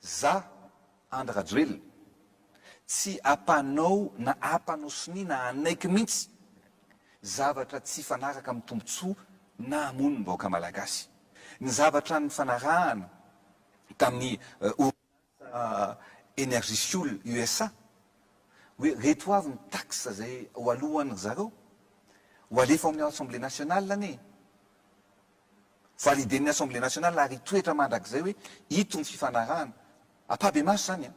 Za, Andry Rajoelina, tsy apanao na apanao sonia na anaiky mintsy zavatra tsy hifanaraka amin'ny tombotsoa na hamono ny vahoaka malagasy. Ny zavatra nifanarahana tamin'ny orinasa Energyfuel USA hoe reto avy ny taxes izay ho aloan'ny ry zareo, ho alefa ao amin'ny Assemblée nationale anie. validen'ny Assemblée nationale ary hitoetra mandrakizay hoe ito ny fifanarahana, ampabemaso izany an,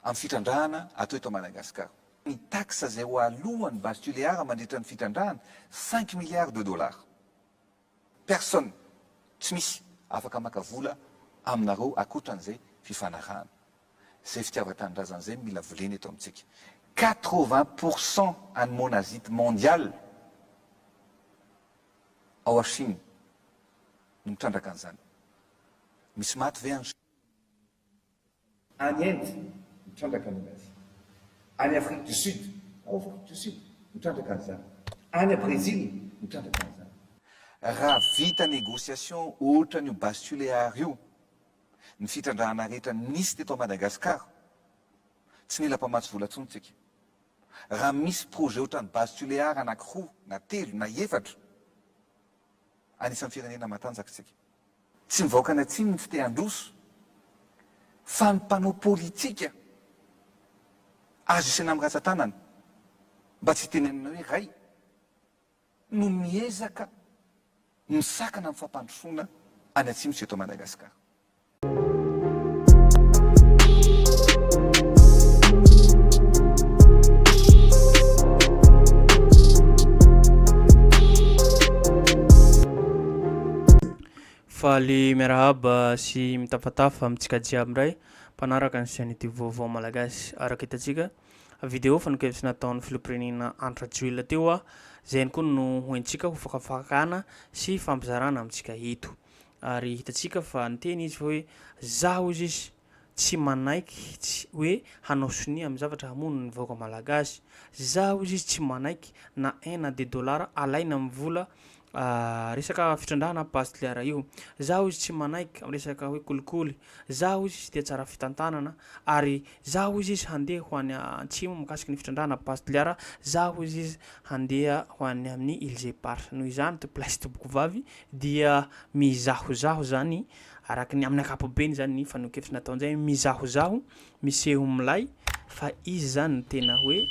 amin'ny fitrandrahana atao eto Madagascar. Ny taxe izay ho aloan'ny base Tuléar mandritra ny fitrandrahana, cinq milliards de dollars. Personne, tsy misy, afaka maka vola aminareo ankoatran'izay fifanarahana. Izay fitiavan-tanindrazana izay no mila volena eto amintsika. Quatre-vingts pour cent an'ny monazite mondial ao à Chine no mitrandraka an'izany. Misy maty ve any. Any Inde, mitrandraka momba azy. Any Afrique du Sud, ao Afrique du Sud, mitrandraka an'izany. Any à Brésil, mitrandraka an'izany. Raha vita négociation ohatran'io Bas Tuléar io, ny fitrandrahana rehetra nisy teto Madagascar, tsy nila mpamatsy vola intsony tsika. Raha misy projet ohatran'ny base tulear anakiroa na telo na efatra, anisan'ny firenena matanjaka isika. Tsy ny vahoakan'ny atsimo no tsy te handroso, fa ny mpanao politika azo isaina amin'ny ratsan-tanana mba tsy hitenenana hoe ray no miezaka misakana amin'ny fampandrosoana any Atsimo sy eto Madagasikara. Faly miarahaba sy mitafatafa amintsika jiaby indray mpanaraka ny Chaîne Youtube Vaovao Malagasy. Araka hitantsika, Video fanekevitra nataon'ny Filompirenena andro rajoelina teo aho, izay ihany koa no hoentsika ho fakafakana sy fampizarana amintsika eto. Ary hitantsika fa niteny izy fa hoe za hozy izy tsy manaiky tsy hoe hanao sonia amin'ny zavatra hamono ny vahoaka malagasy. Za hozy izy tsy manaiky na un na deux dollars alaina amin'ny vola Ah resaka fitrandrahana Bastliara io. Za hoy izy tsy manaiky am resaka hoe kolikoly. Za hoy izy tia tsara fitantanana ary za hoy izy handeha ho any antsimo mikasiky ny fitrandrahana Bastliara. Za hoy izy handeha ho any amin'ny Îles Éparses. Noho izany to place to Bokovavy dia mizahozaho zany araky ny amin'ny ankapobeny zany ny fanehoan-kevitry nataon'izay mizahozaho Miseho milay fa izy zany no tena hoe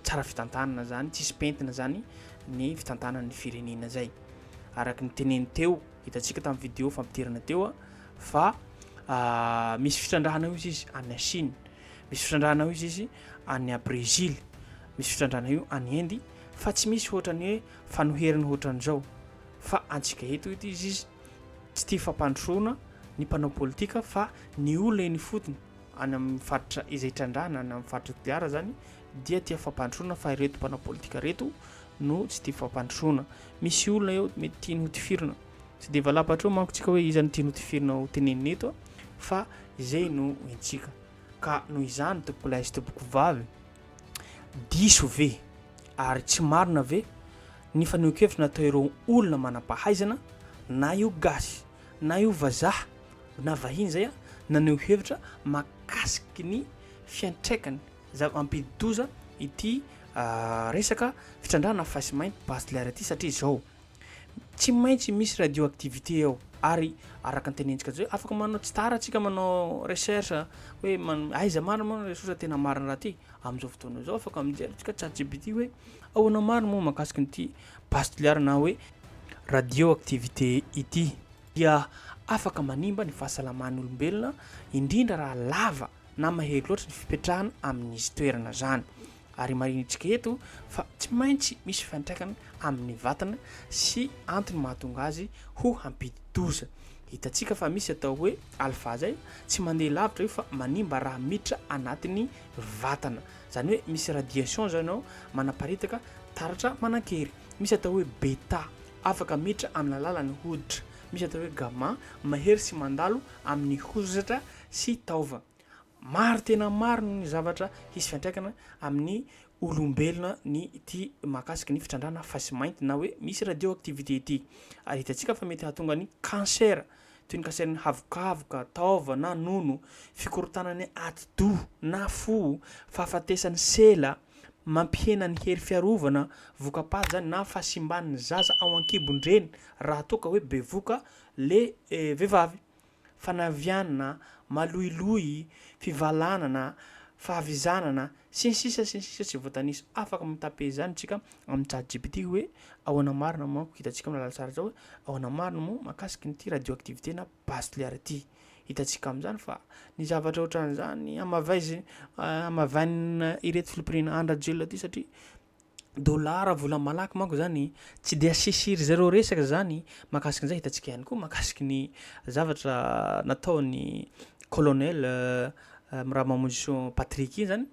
tsara fitantanana zany, tsisy pentina zany ny fitantanan'ny firenena zay. Araky ny teneny teo, hitantsika tamin'ny vidéo fampidirana teo fa misy fitrandrahana io izy any Chine, misy fitrandrahana io izy any Brezily, misy fitrandrahana io any Inde fa tsy misy ohatran'ny hoe fanoherana ohatran'izao fa antsika eto ity izy. Tsy tia fampandrosoana ny mpanao politika fa ny olona eny ifotony, any amin'ny faritra izay trandrahana, any amin'ny faritra Toliara izany dia tia fampandrosoana fa ireto mpanao politika ireto no tsy tia fampandrosoana. Misy olona eo mety tiany ho tifirina. Tsy dia valapa hatreo manko tsika hoe iza no tiany ho tifirina ho tenenina eto fa izay no hentsika. Ka noho izany tompokolahy sy tompokovavy, Diso ve ary tsy marina ve ny fanehoan-kevitra natao'ireo olona manam-pahaizana, na io gasy, na io vazaha, na vahiny izay, naneho hevitra mahakasiky ny fiantraikany za- mampidi-doza ity resaka fitrandrahana fahisimaim-basilaire ity satria izao. Tsy maintsy misy radioactivité ao ary araka ny tenentsika atsy hoe afaka manao tsy tara atsika manao recherche hoe aiza marina moa ny source tena marina raha ty amin'izao fotoana izao afaka mijery atsika chatgpt hoe ahoana marina moa mahakasika an'ity base toliara na hoe radioactivité ity dia afaka manimba ny fahasalaman'olombelona indrindra raha lava na mahery loatra ny fipetrahana amin'izy toerana zany Ary marihintsika eto fa tsy maintsy misy fiantraikany amin'ny vatana sy antony mahatonga azy ho hampidi-doza. Hitantsika fa misy atao hoe alpha zay, tsy mandeha lavitra io fa manimba raha miditra anatin'ny vatana. Zany hoe misy radiation zany ao manaparitaka taratra manan-kery. Misy atao hoe beta, afaka miditra amin'ny alalan'ny hoditra. Misy atao hoe gamma, mahery sy mandalo amin'ny hozatra sy taova. Maro tena maro ny zavatra hisy fiantraikana amin'ny olombelona ny ity mahakasika ny fitrandrahana face mainty na hoe misy radioactivité ity. Ary hitantsika fa mety hahatonga ny cancer toy ny cancer ny havokavoka, taova na nono, fikorontanan'ny atidoha na fo, fahafatesan'ny sela, mampihena ny hery fiarovana, voka-paty izany na fahasimban'ny zaza ao an-kibon-dreny raha toa ka hoe bevoka le vehivavy. fanavianana, maloiloy, fivalanana, fahavizanana, sy ny sisa sy ny sisa tsy voatanisa. Afaka mi-taper izany isika amin'ny chat gpt hoe ahoana marina manko, hitantsika amin'ny lalantsara izao hoe ahoana marina moa mahakasika an'ity radioactivité na base nucléaire ity. Hitantsika amin'izany fa ny zavatra ohatran'izany hamavaiz- hamavainina ireto filoham-pirenena an-dRajoelina ity satria dollars vola malaky manko zany tsy dia asesy ry zareo resaka zany mahakasika an'izay hitantsika ihany koa mahakasika ny zavatra nataon'ny colonel Mirary Mamonjisoa Patrick iny zany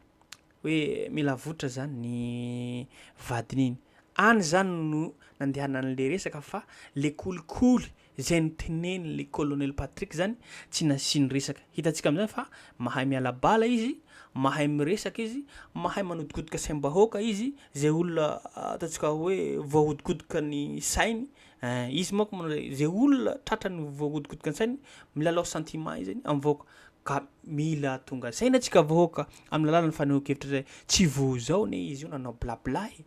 hoe mila avotra zany ny vadiny iny any zany no nandehanan'le resaka fa le kolikoly Izay noteneny le colonel Patrick zany tsy nasiany resaka. Hitantsika amizany fa mahay miala bala izy, mahay miresaka izy, mahay manodikodoka saimbahoaka izy, zay olona ataontsika hoe voahodikodoka ny sainy eh, izy manko moa zay zay olona tratrany voahodikodoka ny sainy milalao sentiment izy zany am vahoaka ka mila tonga saina tsika vahoaka am lalan'ny fanehoan-kevitra zay, tsy vo zao ne izy io nanao blabla e.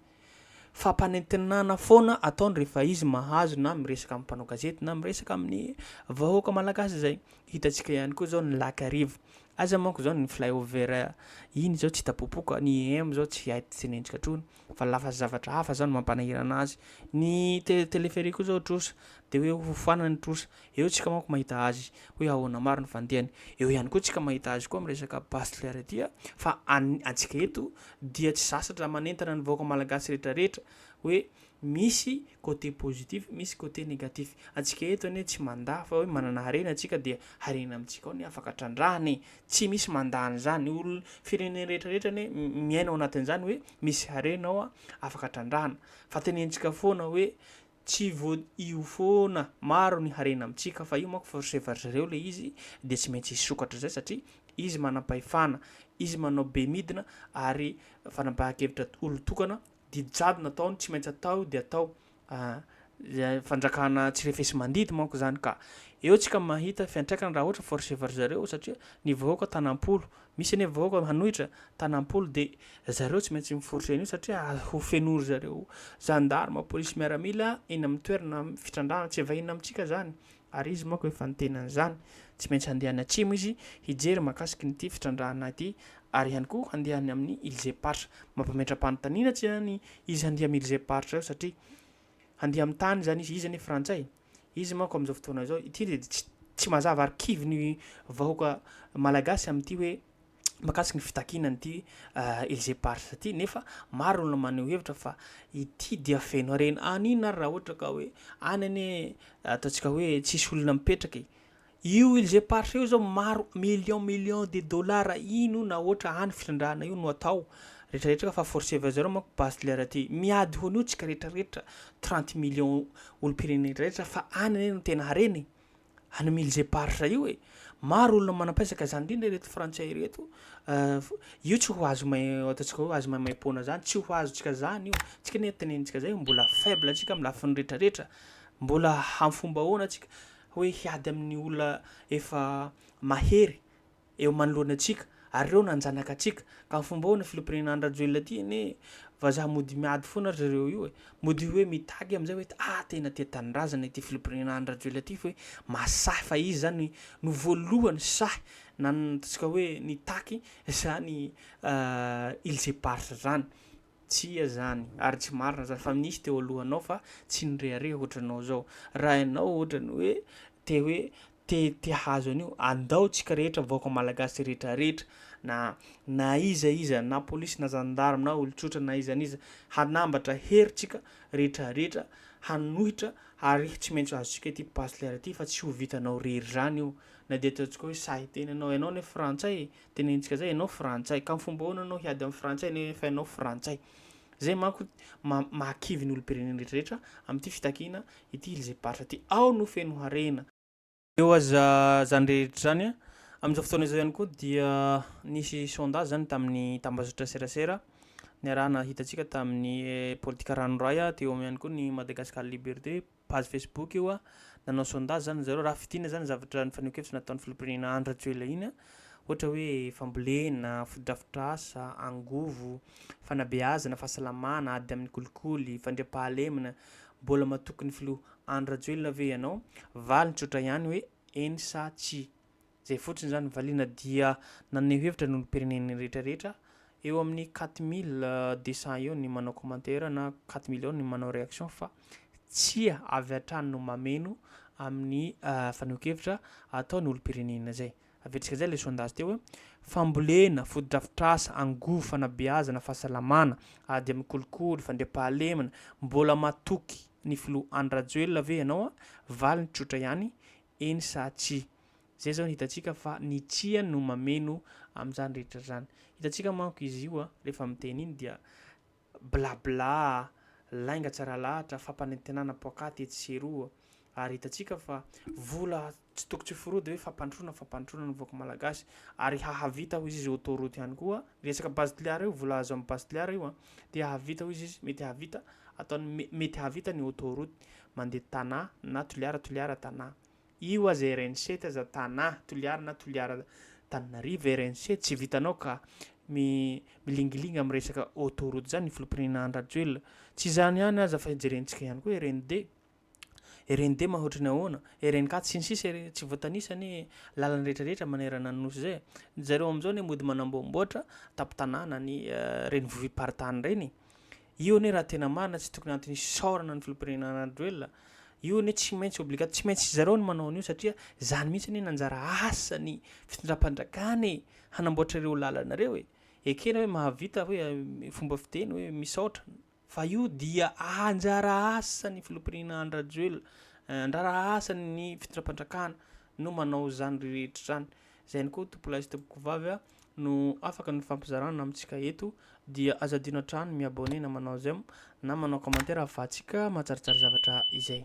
Fampanentenana foana ataony rehefa izy mahazo na miresaka amin'ny mpanao gazety na miresaka amin'ny vahoaka malagasy izay. Hitantsika ihany koa izao ny lakarivo. Aiza manko izao ny flyover iny izao tsy hita popoka, ny IEM izao tsy hay tenentsika intsony fa lafa zavatra hafa izao no mampanahirana azy. Ny téléphérique koa izao trosa dia hoe hofanana ny trosa. Eo tsika manko mahita azy hoe ahoana maro ny fandehany. Eo ihany koa tsika mahita azy koa am resaka Bastler ity a, fa an antsika eto dia tsy zasatra manentana ny vahoaka malagasy rehetra rehetra hoe misy côté positif misy côté négatif. Antsika eto anie tsy mandà fa hoe manana harena tsika dia harena amitsika ao ny afaka trandrahana e. Tsy misy mandà anzany. Olo firenena rehetra rehetra anie miaina ao anatinzany hoe misy harena ao a afaka trandrahana. Fa tenentsika foana hoe Tsy vo io foana, maro ny harena amintsika fa io manko force efa ry zareo le izy dia tsy maintsy hisokatra zay satria izy manampahefana, izy manao be midina ary fanapahan-kevitra olon-tokana, didy jadona ataony tsy maintsy atao io dia atao fanjakana tsy refesi-mandidy manko zany ka eo tsika mahita fiantraikany raha ohatra force efa ry zareo satria ny vahoaka tanam-polo Misy anie vahoaka hanohitra tanam-polo dia zareo tsy maintsy miforitra an'io satria ho fenoin-dry zareo zandarma, polisy miaramila eny amin'ny toerana fitrandrahana. Tsy vahiny amintsika izany ary izy manko efa niteny an'izany. Tsy maintsy handeha any atsimo izy hijery mahakasiky an'ity fitrandrahana ity ary ihany koa handeha any amin'ny Ilzem-paritra. Mampametra-panontaniana tsy ihany izy handeha amin'ny Ilzem-paritra eo satria handeha amin'ny tany izany izy, izy anie frantsay. Izy manko amin'izao fotoana izao, ity dia tsy tsy mazava ary kivy ny vahoaka malagasy amin'ity hoe makasika ny fitakiana an'ity Elysée Pars ity nefa maro olona maneho hevitra fa ity dia feno harena. Anina ary raha ohatra ka hoe any anie ataontsika hoe tsisy olona mipetraka e. Io ils eparses io zao maro millions millions de dollars ino na hoatra any fitrandrahana io no atao rehetra rehetra ka fa forceve à zero manko bachelor aty miady ho an'io tsika rehetra rehetra trente millions olompirenena rehetra rehetra fa any anie no tena harena e any mille eparses io e maro olona manampaisaka zany indrindra ireto frantsay ireto io tsy ho azo may ataontsika hoe azo maimaimpoana zany tsy ho azontsika zany io tsika anie tenenitsika zay mbola faible tsika am lafiny rehetra rehetra mbola hamfomba ahoana tsika hoe hiady amin'ny olona efa mahery eo manoloana antsika ary ireo nanjanaka antsika ka ny fomba ahoana filompirenena an-dRajoelina ity anie vazaha mody miady foana ry zareo io e mody hoe mitaky amin'izay hoe ah tena tia tanindrazana ity filompirenena an-dRajoelina ity fa hoe mahasahy fa izy izany no voalohany sahy na ny ataontsika hoe nitaky izany îles éparses izany Tsia zany, ary tsy marina zany fa nisy teo alohanao fa tsy nirehareha ohatranao zao. Raha ianao ohatrany hoe te hoe te te hahazo an'io, andao tsika rehetra vahoaka malagasy rehetra rehetra na na iza iza na polisy na zandary na olon-tsotra na iza n'iza hanambatra hery tsika rehetra rehetra hanohitra ary tsy maintsy azontsika ity Bachelor ity fa tsy ho vitanao rery zany io na dia ataontsika hoe sahy tena ianao, ianao anie frantsay e! Tenenitsika zay ianao frantsay ka fomba ahoana anao hiady amin'ny frantsay nefa ianao frantsay. Zay manko mahakivy ny olom-pirenena rehetrarehetra amin'ity fitakiana ity Ilzeparsa ity. Ao no feno harena. Eo aza zany rehetra zany a, amin'izao fotoana izao ihany koa dia nisy sondage zany tamin'ny tambazotra serasera niarahana hitantsika tamin'ny politika ranoray teo ihany koa ny Madagascar Liberté, page Facebook io a, nanao sondage zany ry zareo, raha fidina zany zavatra ny fanehoan-kevitra nataon'ny filoham-pirenena Andry Rajoelina iny a, ohatra hoe fambolena, fotodrafitrasa, angovo, fanabeazana, fahasalamana, ady amin'ny kolikoly, fandriampahalemana, mbola matoky ny filoha Andry Rajoelina ve ianao? Valiny tsotra ihany hoe eny sa tsia. Izay fotsiny izany valiana dia naneho hevitra ny olom-pirenena rehetra rehetra, eo amin'ny quatre mille deux cents eo ny manao commentaire na quatre mille eo ny manao réaction fa tsia avy hatrany no mameno amin'ny fanehoan-kevitra ataon'ny olom-pirenena izay. Aviantsika izay ilay sondage teo hoe fambolena, fotodrafitrasa, angovo, fanabeazana, fahasalamana, ady amin'ny kolikoly, fandriampahalemana, mbola matoky ny filoha Andry Rajoelina ve ianao? Valiny tsotra ihany, eny sa tsia. Izay izao no hitantsika fa ny tsia no mameno amin'izany rehetra izany. Hitantsika manko izy io rehefa miteny iny dia bla bla, lainga tsy ara-lahatra, fampanentenana poakaty etsy sy eroa ary hitantsika fa vola tsy toko tsy forody hoe fampandrosoana fampandrosoana ny vahoaka malagasy ary hahavita hoy izy izy autoroute ihany koa ny resaka base de l'art io vola azo amin'ny base de l'art io dia hahavita hoy izy izy mety hahavita ataony mety hahavita ny autoroute mandeha Tana na Toliara Toliara Tana. Io aza RNC ty aza Tana, Toliara na Toliara Tananarive RNC tsy vitanao ka mi milingilingy am resaka auto route zany ny filompirnena Andry Rajoelina. Tsy izany ihany aza fa jerentsika ihany koa RND, RND mahoatry ny ahoana, RNK tsy ny sisa ry tsy voatanisa anie lalana rehetra rehetra manerana ny nosy zay. Ny zareo amzao anie mody manamboamboatra tampon-tanàna ny renivohim-paritany reny. Io anie raha tena marina tsy tokony antony hisaorana ny filoham-pirenena Rajoelina. Io anie tsy maintsy obligat, tsy maintsy zareo no manao an'io satria zany mihitsy anie no anjara asan'ny fitondram-panjakana e, hanamboatra ireo lalana ireo e. Ekena hoe mahavita hoe fomba fiteny hoe misaotra fa io dia anjara asan'ny filoham-pirenena Andry Rajoelina, anjara asan'ny fitondram-panjakana no manao izany rehetra izany. Izay ihany koa tompolahy sy tompokovavy a. no afaka nifampizarana amintsika eto dia aza adino hatrany mi abonner na manao j'aime na manao commentaire afahantsika mahatsaratsara zavatra izay.